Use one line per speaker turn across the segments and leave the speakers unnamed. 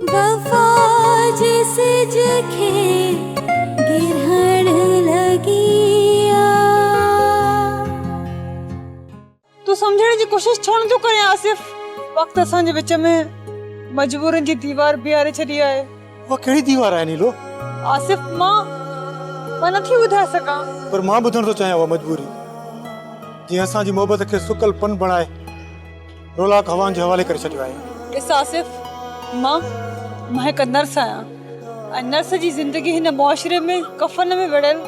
وفا جي سج کي گرهڻ لڳي آ.
تون سمجهڻ جي ڪوشش ڇو نٿو ڪرين آصف. وقت اسان جي وچ ۾ مجبورين جي ديوار بيهاري ڇڏي آهي. اها ڪهڙي ديوار
آهي نيلو. آصف مان
مان نٿي ٻڌائي سگهان. پر مان ٻڌڻ ٿو
چاهيان اها مجبوري جنهن اسان جي محبت کي سڪل پن بڻائي. رولاڪ هوائن جي حوالي ڪري ڇڏيو آهي. اس آصف
مان مان هڪ نرس آهيان ۽ نرس جي زندگي هن معاشري ۾ ڪفن ۾ ويڙهيل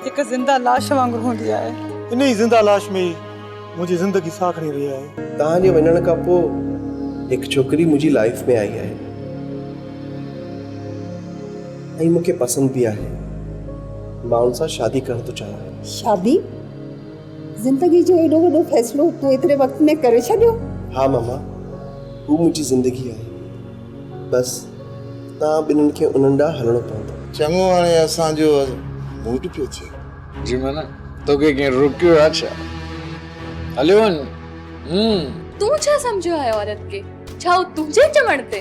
هڪ زنده لاش وانگر هوندي آهي. انهي زنده لاش
۾ ئي منهنجي زندگي ساهه کڻي رهي آهي. توهان جي وڃڻ کان پوء
هڪ ڇوڪري منهنجي لائيف ۾ آئي آهي ۽ مون کي پسند به آهي. مان ان سان شادي ڪرڻ ٿو چاهيان. شادي؟
زندگي جو ايڏو وڏو فيصلو تون ايتري وقت ۾ ڪري ڇڏيو؟ ها ماما،
هو منهنجي زندگي آهي. بس توهان ٻنهن کي انهن ڏانهن هلڻو پوندو. چڱو هاڻي اسان
جو موڊ پيو ٿئي. جي منا، توکي
ڪنهن روڪيو آهي ڇا؟ هليو وڃ. تون ڇا
سمجهيو آهي عورت کي؟ ڇا هو تنهنجي چوڻ تي